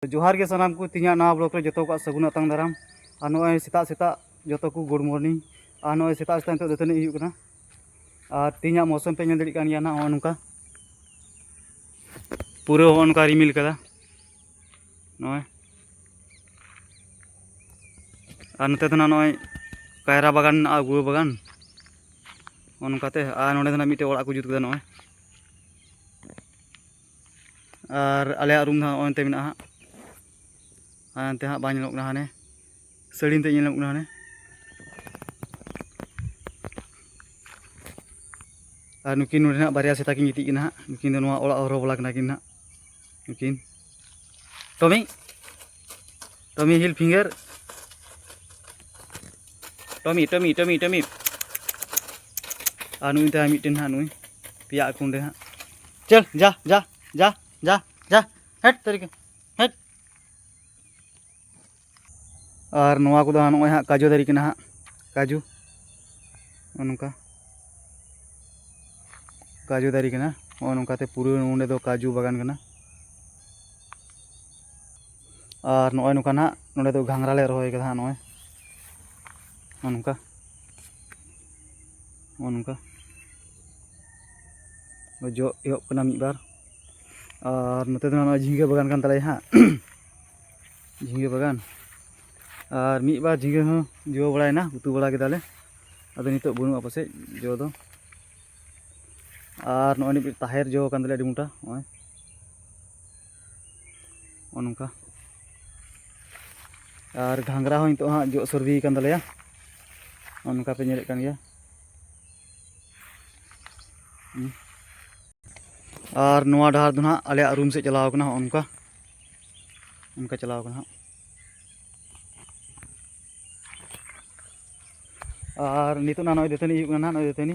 ᱡᱚᱦᱟᱨ ᱜᱮ ᱥᱟᱱᱟᱢ ᱠᱚ ᱛᱤᱧᱟᱹᱜ ᱱᱟᱣᱟ ᱵᱞᱚᱜ ᱨᱮ ᱡᱚᱛᱚ ᱠᱚᱣᱟᱜ ᱥᱟᱹᱜᱩᱱ ᱟᱛᱟᱝ ᱫᱟᱨᱟᱢ ᱟᱨ ᱱᱚᱜᱼᱚᱭ ᱥᱮᱛᱟᱜ ᱥᱮᱛᱟᱜ ᱡᱚᱛᱚ ᱠᱚ ᱜᱩᱰ ᱢᱚᱨᱱᱤᱝ ᱟᱨ ᱱᱚᱜᱼᱚᱭ ᱥᱮᱛᱟᱜ ᱥᱮᱛᱟᱜ ᱱᱤᱛᱚᱜ ᱫᱟᱹᱛᱟᱹᱱᱤ ᱦᱩᱭᱩᱜ ᱠᱟᱱᱟ ᱟᱨ ᱛᱤᱧᱟᱹᱜ ᱢᱚᱥᱚᱢ ᱯᱮ ᱧᱮᱞ ᱫᱟᱲᱮᱭᱟᱜ ᱠᱟᱱ ᱜᱮᱭᱟ ᱱᱚᱜᱼᱚ ᱱᱚᱝᱠᱟ ᱯᱩᱨᱟᱹ ᱦᱚᱸ ᱚᱱᱠᱟ ᱨᱤᱢᱤᱞ ᱠᱟᱫᱟ ᱱᱚᱜᱼᱚᱭ ᱟᱨ ᱱᱚᱛᱮ ᱫᱚ ᱱᱚᱜᱼᱚᱭ ᱠᱟᱭᱨᱟ ᱵᱟᱜᱟᱱ ᱢᱮᱱᱟᱜᱼᱟ ᱜᱩᱣᱟᱹ ᱵᱟᱜᱟᱱ ᱚᱱᱠᱟᱛᱮ ᱟᱨ ᱱᱚᱸᱰᱮ ᱫᱚ ᱢᱤᱫᱴᱮᱡ ᱚᱲᱟᱜ ᱠᱚ ᱡᱩᱛ ᱠᱮᱫᱟ ᱱᱚᱜᱼᱚᱭ ᱟᱨ ᱟᱞᱮᱭᱟᱜ ᱨᱩᱢ ᱫᱚ ᱦᱟᱸᱜ ᱚᱱᱛᱮ ᱢᱮᱱᱟᱜᱼᱟ ᱦᱟᱸᱜ ᱟᱨ ᱚᱱᱛᱮ ᱦᱟᱸᱜ ᱵᱟᱝ ᱧᱮᱞᱚᱜ ᱠᱟᱱᱟ ᱦᱟᱱᱮ ᱥᱟᱹᱲᱤᱢ ᱛᱮ ᱧᱮᱞᱚᱜ ᱠᱟᱱᱟ ᱦᱟᱱᱮ ᱟᱨ ᱱᱩᱠᱤᱱ ᱱᱚᱰᱮ ᱦᱟᱸᱜ ᱵᱟᱨᱭᱟ ᱥᱮᱛᱟ ᱠᱤᱱ ᱜᱤᱛᱤᱡ ᱠᱟᱱᱟ ᱦᱟᱸᱜ ᱱᱩᱠᱤᱱ ᱫᱚ ᱱᱚᱣᱟ ᱚᱲᱟᱜ ᱦᱚᱨᱚ ᱵᱚᱞᱟ ᱠᱟᱱᱟ ᱠᱤᱱ ᱦᱟᱸᱜ ᱱᱩᱠᱤᱱ ᱴᱚᱢᱤ ᱴᱚᱢᱤ ᱦᱤᱞ ᱯᱷᱤᱝᱜᱟᱨ ᱴᱚᱢᱤ ᱴᱚᱢᱤ ᱴᱚᱢᱤ ᱴᱚᱢᱤ ᱟᱨ ᱱᱩᱭ ᱛᱟᱭ ᱢᱤᱫᱴᱮᱱ ᱦᱟᱸᱜ ᱱᱩᱭ ᱯᱮᱭᱟ ᱠᱩᱸᱰᱮ ᱦᱟᱸᱜ ᱪᱚᱞ ᱡᱟ ᱡᱟ ᱡᱟ ᱡᱟ ᱡᱟ ᱦᱮᱴ ᱛᱟᱹᱨᱤᱠᱟ ᱦᱮᱴ ᱟᱨ ᱱᱚᱣᱟ ᱠᱚᱫᱚ ᱦᱟᱸᱜ ᱱᱚᱜᱼᱚᱭ ᱦᱟᱸᱜ ᱠᱟᱡᱩ ᱫᱟᱨᱮ ᱠᱟᱱᱟ ᱦᱟᱸᱜ ᱠᱟᱡᱩ ᱱᱚᱜᱼᱚ ᱱᱚᱝᱠᱟ ᱠᱟᱡᱩ ᱫᱟᱨᱮ ᱠᱟᱱᱟ ᱱᱚᱜᱼᱚ ᱱᱚᱝᱠᱟᱛᱮ ᱯᱩᱨᱟᱹ ᱱᱚᱸᱰᱮ ᱫᱚ ᱠᱟᱡᱩ ᱵᱟᱜᱟᱱ ᱠᱟᱱᱟ ᱟᱨ ᱱᱚᱜᱼᱚᱭ ᱱᱚᱝᱠᱟ ᱱᱟᱜ ᱱᱚᱸᱰᱮ ᱫᱚ ᱜᱷᱟᱸᱜᱽᱨᱟ ᱞᱮ ᱨᱚᱦᱚᱭ ᱠᱟᱫᱟ ᱦᱟᱸᱜ ᱱᱚᱜᱼᱚᱭ ᱱᱚᱜᱼᱚ ᱱᱚᱝᱠᱟ ᱱᱚᱜᱼᱚ ᱱᱚᱝᱠᱟ ᱡᱚ ᱮᱦᱚᱵ ᱠᱟᱱᱟ ᱢᱤᱫ ᱵᱟᱨ ᱟᱨ ᱱᱚᱛᱮ ᱫᱚ ᱱᱚᱜᱼᱚᱭ ᱡᱷᱤᱸᱜᱟᱹ ᱵᱟᱜᱟᱱ ᱠᱟᱱ ᱛᱟᱞᱮᱭᱟ ᱦᱟᱸᱜ ᱡᱷᱤᱸᱜᱟᱹ ᱵᱟᱜᱟᱱ ᱟᱨ ᱢᱤᱫ ᱵᱟᱨ ᱡᱷᱤᱸᱜᱟᱹ ᱦᱚᱸ ᱡᱚ ᱵᱟᱲᱟᱭᱮᱱᱟ ᱩᱛᱩ ᱵᱟᱲᱟ ᱠᱮᱫᱟᱞᱮ ᱟᱫᱚ ᱱᱤᱛᱚᱜ ᱵᱟᱹᱱᱩᱜᱼᱟ ᱯᱟᱥᱮᱡ ᱡᱚ ᱫᱚ ᱟᱨ ᱱᱚᱜᱼᱚᱭ ᱱᱤᱛᱚᱜ ᱛᱟᱦᱮᱨ ᱡᱚ ᱠᱟᱱ ᱛᱟᱞᱮᱭᱟ ᱟᱹᱰᱤ ᱢᱚᱴᱟ ᱱᱚᱜᱼᱚᱭ ᱱᱚᱜᱼᱚ ᱱᱚᱝᱠᱟ ᱟᱨ ᱜᱷᱟᱸᱜᱽᱨᱟ ᱦᱚᱸ ᱱᱤᱛᱚᱜ ᱦᱟᱸᱜ ᱡᱚᱜ ᱥᱟᱹᱨᱫᱤ ᱟᱠᱟᱱ ᱛᱟᱞᱮᱭᱟ ᱱᱚᱜᱼᱚ ᱱᱚᱝᱠᱟ ᱯᱮ ᱧᱮᱞᱮᱫ ᱠᱟᱱ ᱜᱮᱭᱟ ᱟᱨ ᱱᱚᱣᱟ ᱰᱟᱦᱟᱨ ᱫᱚ ᱦᱟᱸᱜ ᱟᱞᱮᱭᱟᱜ ᱨᱩᱢ ᱥᱮᱫ ᱪᱟᱞᱟᱣ ᱠᱟᱱᱟ ᱱᱚᱜᱼᱚ ᱱᱚᱝᱠᱟ ᱚᱱᱠᱟ ᱪᱟᱞᱟᱣ ᱠᱟᱱᱟ ᱦᱟᱸᱜ ᱟᱨ ᱱᱤᱛᱚᱜ ᱱᱚᱜᱼᱚᱭ ᱫᱟᱹᱛᱟᱹᱱᱤ ᱦᱩᱭᱩᱜ ᱠᱟᱱᱟ ᱱᱚᱜᱼᱚᱭ ᱫᱟᱹᱛᱟᱹᱱᱤ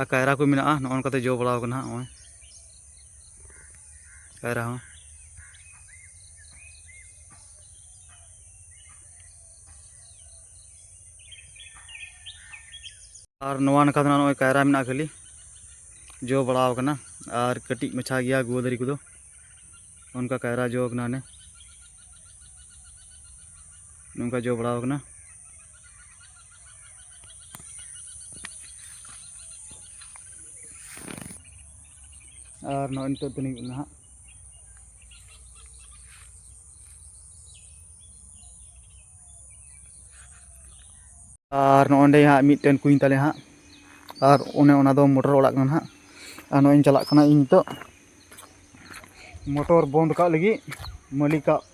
ᱟᱨ ᱠᱟᱭᱨᱟ ᱠᱚ ᱢᱮᱱᱟᱜᱼᱟ ᱱᱚᱜᱼᱚ ᱱᱚᱝᱠᱟᱛᱮ ᱡᱚ ᱵᱟᱲᱟᱣ ᱠᱟᱱᱟ ᱱᱚᱜᱼᱚᱭ ᱠᱟᱭᱨᱟ ᱦᱚᱸ ᱟᱨ ᱱᱚᱣᱟ ᱱᱟᱠᱷᱟ ᱫᱚ ᱱᱚᱜᱼᱚᱭ ᱠᱟᱭᱨᱟ ᱢᱮᱱᱟᱜᱼᱟ ᱠᱷᱟᱹᱞᱤ ᱡᱚ ᱵᱟᱲᱟᱣ ᱠᱟᱱᱟ ᱟᱨ ᱠᱟᱹᱴᱤᱡ ᱢᱟᱪᱷᱟ ᱜᱮᱭᱟ ᱜᱩᱣᱟᱹ ᱫᱟᱨᱮ ᱠᱚᱫᱚ ᱚᱱᱠᱟ ᱠᱟᱭᱨᱟ ᱡᱚ ᱠᱟᱱᱟ ᱦᱟᱱᱮ ᱱᱚᱝᱠᱟ ᱡᱚ ᱵᱟᱲᱟᱣ ᱠᱟᱱᱟ ᱟᱨ ᱱᱚᱜᱼᱚᱭ ᱱᱤᱛᱚᱜ ᱛᱤᱱᱤᱧ ᱠᱟᱱᱟ ᱦᱟᱸᱜ ᱟᱨ ᱱᱚᱜᱼᱚᱸᱰᱮ ᱦᱟᱸᱜ ᱢᱤᱫᱴᱮᱱ ᱠᱩᱧ ᱛᱟᱞᱮ ᱦᱟᱸᱜ ᱟᱨ ᱚᱱᱮ ᱚᱱᱟ ᱫᱚ ᱢᱚᱴᱚᱨ ᱚᱲᱟᱜ ᱠᱟᱱᱟ ᱦᱟᱸᱜ ᱟᱨ ᱱᱚᱜᱼᱚᱭ ᱤᱧ ᱪᱟᱞᱟᱜ ᱠᱟᱱᱟ ᱤᱧ ᱱᱤᱛᱚᱜ ᱢᱚᱴᱚᱨ ᱵᱚᱱᱫ ᱠᱟᱜ ᱞᱟᱹᱜᱤᱫ ᱢᱟᱹᱞᱤᱠᱟᱜ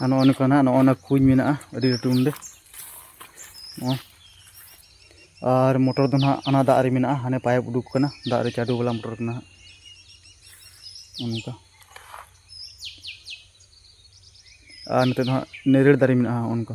ᱟᱨ ᱱᱚᱜᱼᱚ ᱱᱚᱝᱠᱟ ᱱᱟᱜ ᱱᱚᱜᱼᱚ ᱱᱟ ᱠᱩᱧ ᱢᱮᱱᱟᱜᱼᱟ ᱟᱹᱰᱤ ᱞᱟᱹᱴᱩ ᱱᱚᱰᱮ ᱱᱚᱜᱼᱚᱭ ᱟᱨ ᱢᱚᱴᱚᱨ ᱫᱚ ᱱᱟᱦᱟᱜ ᱚᱱᱟ ᱫᱟᱜ ᱨᱮ ᱢᱮᱱᱟᱜᱼᱟ ᱦᱟᱱᱮ ᱯᱟᱭᱤᱯ ᱩᱰᱩᱠ ᱠᱟᱱᱟ ᱫᱟᱜ ᱨᱮ ᱪᱟᱰᱳ ᱵᱟᱞᱟ ᱢᱚᱴᱚᱨ ᱠᱟᱱᱟ ᱦᱟᱸᱜ ᱚᱱᱠᱟ ᱟᱨ ᱱᱤᱛᱚᱜ ᱫᱚ ᱦᱟᱸᱜ ᱱᱮᱨᱮᱲ ᱫᱟᱨᱮ ᱢᱮᱱᱟᱜᱼᱟ ᱚᱱᱠᱟ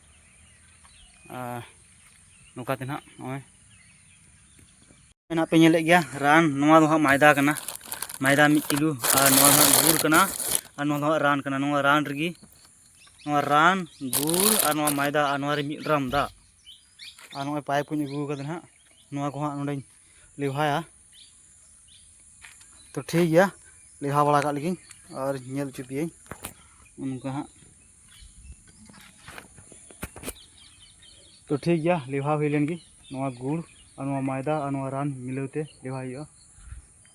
ᱱᱚᱝᱠᱟ ᱛᱮ ᱱᱟᱦᱟᱜ ᱱᱚᱜᱼᱚᱭ ᱱᱟᱦᱟᱜ ᱯᱮ ᱧᱮᱞᱮᱫ ᱜᱮᱭᱟ ᱨᱟᱱ ᱱᱚᱣᱟ ᱫᱚ ᱦᱟᱸᱜ ᱢᱟᱭᱫᱟ ᱠᱟᱱᱟ ᱢᱟᱭᱫᱟ ᱢᱤᱫ ᱠᱤᱞᱳ ᱟᱨ ᱱᱚᱣᱟ ᱫᱚ ᱦᱟᱸᱜ ᱜᱩᱲ ᱠᱟᱱᱟ ᱟᱨ ᱱᱚᱣᱟ ᱫᱚ ᱦᱟᱸᱜ ᱨᱟᱱ ᱠᱟᱱᱟ ᱱᱚᱣᱟ ᱨᱟᱱ ᱨᱮᱜᱮ ᱱᱚᱣᱟ ᱨᱟᱱ ᱜᱩᱲ ᱟᱨ ᱱᱚᱣᱟ ᱢᱟᱭᱫᱟ ᱟᱨ ᱱᱚᱣᱟ ᱨᱮ ᱢᱤᱫ ᱰᱨᱟᱢ ᱫᱟᱜ ᱟᱨ ᱱᱚᱜᱼᱚᱭ ᱯᱟᱭᱤᱯ ᱠᱚᱧ ᱟᱹᱜᱩ ᱠᱟᱫᱟ ᱱᱟᱦᱟᱜ ᱱᱚᱣᱟ ᱠᱚ ᱦᱟᱸᱜ ᱱᱚᱰᱮᱧ ᱞᱮᱣᱦᱟᱭᱟ ᱛᱚ ᱴᱷᱤᱠ ᱜᱮᱭᱟ ᱞᱮᱣᱦᱟ ᱵᱟᱲᱟ ᱠᱟᱜ ᱞᱮᱜᱤᱧ ᱟᱨ ᱧᱮᱞ ᱦᱚᱪᱚ ᱯᱮᱭᱟᱹᱧ ᱚᱱᱠᱟ ᱦᱟᱸᱜ ᱛᱚ ᱴᱷᱤᱠ ᱜᱮᱭᱟ ᱞᱮᱣᱦᱟ ᱦᱩᱭ ᱞᱮᱱ ᱜᱮ ᱱᱚᱣᱟ ᱜᱩᱲ ᱟᱨ ᱱᱚᱣᱟ ᱢᱚᱭᱫᱟ ᱟᱨ ᱱᱚᱣᱟ ᱨᱟᱱ ᱢᱤᱞᱟᱹᱣ ᱛᱮ ᱞᱮᱣᱦᱟᱭ ᱦᱩᱭᱩᱜᱼᱟ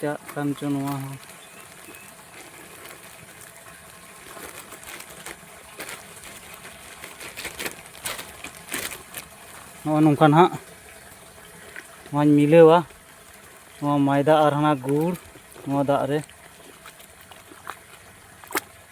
ᱪᱟᱜ ᱠᱟᱱ ᱪᱚ ᱱᱚᱣᱟ ᱦᱚᱸ ᱱᱚᱜᱼᱚ ᱱᱚᱝᱠᱟ ᱱᱟᱦᱟᱜ ᱱᱚᱣᱟᱧ ᱢᱤᱞᱟᱹᱣᱟ ᱱᱚᱣᱟ ᱢᱟᱭᱫᱟ ᱟᱨ ᱦᱟᱱᱟ ᱜᱩᱲ ᱱᱚᱣᱟ ᱫᱟᱜ ᱨᱮ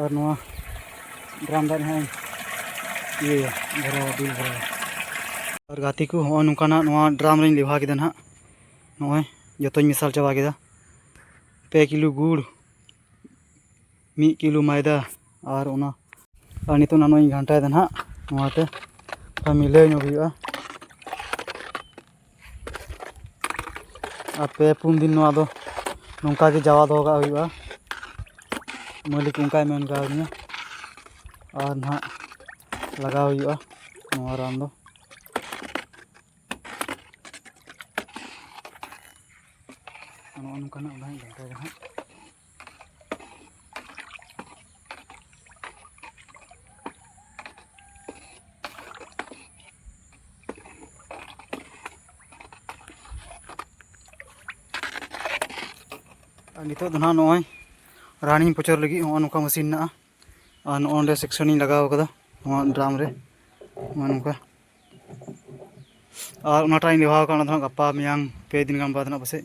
ᱟᱨ ᱱᱚᱣᱟ ᱰᱨᱟᱢ ᱫᱟᱜ ᱦᱚᱸ ᱤᱭᱟᱹᱭᱟ ᱵᱷᱚᱨᱟᱣᱟ ᱫᱩᱞ ᱵᱷᱚᱨᱟᱣᱟ ᱟᱨ ᱜᱟᱛᱮ ᱠᱚ ᱦᱚᱸᱜᱼᱚᱭ ᱱᱚᱝᱠᱟᱱᱟᱜ ᱱᱚᱣᱟ ᱰᱨᱟᱢ ᱨᱤᱧ ᱞᱮᱵᱷᱟ ᱠᱮᱫᱟ ᱱᱟᱦᱟᱜ ᱱᱚᱜᱼᱚᱭ ᱡᱚᱛᱚᱧ ᱢᱮᱥᱟᱞ ᱪᱟᱵᱟ ᱠᱮᱫᱟ ᱯᱮ ᱠᱤᱞᱳ ᱜᱩᱲ ᱢᱤᱫ ᱠᱤᱞᱳ ᱢᱚᱭᱫᱟ ᱟᱨ ᱚᱱᱟ ᱟᱨ ᱱᱤᱛᱚᱜ ᱱᱟᱜ ᱱᱚᱣᱟᱧ ᱜᱷᱟᱱᱴᱟᱭᱮᱫᱟ ᱱᱟᱦᱟᱜ ᱱᱚᱣᱟᱛᱮ ᱢᱤᱞᱟᱹᱣ ᱧᱚᱜ ᱦᱩᱭᱩᱜᱼᱟ ᱟᱨ ᱯᱮ ᱯᱩᱱ ᱫᱤᱱ ᱱᱚᱣᱟ ᱫᱚ ᱱᱚᱝᱠᱟ ᱜᱮ ᱡᱟᱣᱟ ᱫᱚᱦᱚ ᱠᱟᱜ ᱦᱩᱭᱩᱜᱼᱟ ᱢᱟᱹᱞᱤᱠ ᱚᱱᱠᱟᱭ ᱢᱮᱱ ᱠᱟᱣᱫᱤᱧᱟ ᱟᱨ ᱱᱟᱦᱟᱜ ᱞᱟᱜᱟᱣ ᱦᱩᱭᱩᱜᱼᱟ ᱱᱚᱣᱟ ᱨᱟᱱ ᱫᱚ ᱱᱚᱜᱼᱚ ᱱᱚᱝᱠᱟᱱᱟᱜ ᱵᱟᱝ ᱫᱚᱨᱠᱟᱨ ᱦᱟᱸᱜ ᱟᱨ ᱱᱤᱛᱚᱜ ᱫᱚ ᱱᱟᱦᱟᱜ ᱱᱚᱜᱼᱚᱭ ᱨᱟᱱᱤᱧ ᱯᱚᱪᱚᱨ ᱞᱟᱹᱜᱤᱫ ᱱᱚᱜᱼᱚ ᱱᱚᱝᱠᱟ ᱢᱮᱥᱤᱱ ᱢᱮᱱᱟᱜᱼᱟ ᱟᱨ ᱱᱚᱜᱼᱚ ᱱᱚᱸᱰᱮ ᱥᱮᱠᱥᱚᱱᱤᱧ ᱞᱟᱜᱟᱣ ᱠᱟᱫᱟ ᱱᱚᱣᱟ ᱰᱨᱟᱢ ᱨᱮ ᱱᱚᱜᱼᱚ ᱱᱚᱝᱠᱟ ᱟᱨ ᱚᱱᱟᱴᱟᱜ ᱤᱧ ᱞᱮᱣᱦᱟᱣ ᱠᱟᱜᱼᱟ ᱚᱱᱟ ᱫᱚ ᱱᱟᱦᱟᱜ ᱜᱟᱯᱟ ᱢᱮᱭᱟᱝ ᱯᱮ ᱫᱤᱱ ᱜᱟᱱ ᱵᱟᱫᱽ ᱱᱟᱦᱟᱜ ᱯᱟᱥᱮᱡ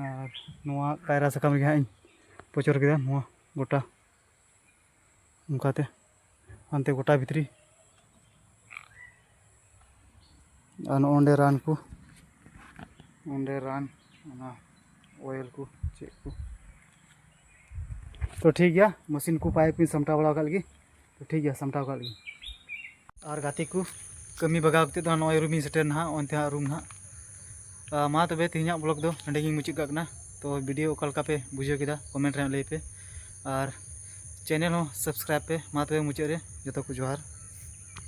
ᱟᱨ ᱱᱚᱣᱟ ᱠᱟᱭᱨᱟ ᱥᱟᱠᱟᱢ ᱨᱮᱜᱮ ᱦᱟᱸᱜ ᱤᱧ ᱯᱚᱪᱚᱨ ᱠᱮᱫᱟ ᱱᱚᱣᱟ ᱜᱚᱴᱟ ᱚᱱᱠᱟᱛᱮ ᱦᱟᱱᱛᱮ ᱜᱚᱴᱟ ᱵᱷᱤᱛᱨᱤ ᱟᱨ ᱱᱚᱜᱼᱚ ᱱᱚᱰᱮ ᱨᱟᱱ ᱠᱚ ᱚᱸᱰᱮ ᱨᱟᱱ ᱚᱱᱟ ᱳᱭᱮᱞ ᱠᱚ ᱪᱮᱫ ᱠᱚ ᱛᱚ ᱴᱷᱤᱠ ᱜᱮᱭᱟ ᱢᱮᱥᱤᱱ ᱠᱚ ᱯᱟᱭᱤᱯ ᱠᱚᱧ ᱥᱟᱢᱴᱟᱣ ᱵᱟᱲᱟ ᱟᱠᱟᱫ ᱞᱮᱜᱮ ᱛᱚ ᱴᱷᱤᱠ ᱜᱮᱭᱟ ᱥᱟᱢᱴᱟᱣ ᱟᱠᱟᱫ ᱞᱮᱜᱮ ᱟᱨ ᱜᱟᱛᱮ ᱠᱚ ᱠᱟᱹᱢᱤ ᱵᱟᱜᱟᱣ ᱠᱟᱛᱮ ᱫᱚ ᱱᱚᱜᱼᱚᱭ ᱨᱩᱢᱤᱧ ᱥᱮᱴᱮᱨ ᱱᱟᱦᱟᱜ ᱚᱱᱛᱮ ᱦᱟᱸᱜ ᱨᱩᱢ ᱱᱟᱦᱟᱜ ᱢᱟ ᱛᱚᱵᱮ ᱛᱮᱦᱮᱧᱟᱜ ᱵᱞᱚᱜ ᱫᱚ ᱱᱚᱸᱰᱮ ᱜᱤᱧ ᱢᱩᱪᱟᱹᱫ ᱠᱟᱜ ᱠᱟᱱᱟ ᱛᱚ ᱵᱷᱤᱰᱤᱭᱳ ᱚᱠᱟ ᱞᱮᱠᱟ ᱯᱮ ᱵᱩᱡᱷᱟᱹᱣ ᱠᱮᱫᱟ ᱠᱚᱢᱮᱱᱴ ᱨᱮ ᱞᱟᱹᱭ ᱯᱮ ᱟᱨ ᱪᱮᱱᱮᱞ ᱦᱚᱸ ᱥᱟᱵᱥᱠᱨᱟᱭᱤᱵᱽ ᱯᱮ ᱢᱟ ᱛᱚᱵᱮ ᱢᱩᱪᱟᱹᱫ ᱨᱮ ᱡᱚᱛᱚ ᱠᱚ ᱡᱚᱦᱟᱨ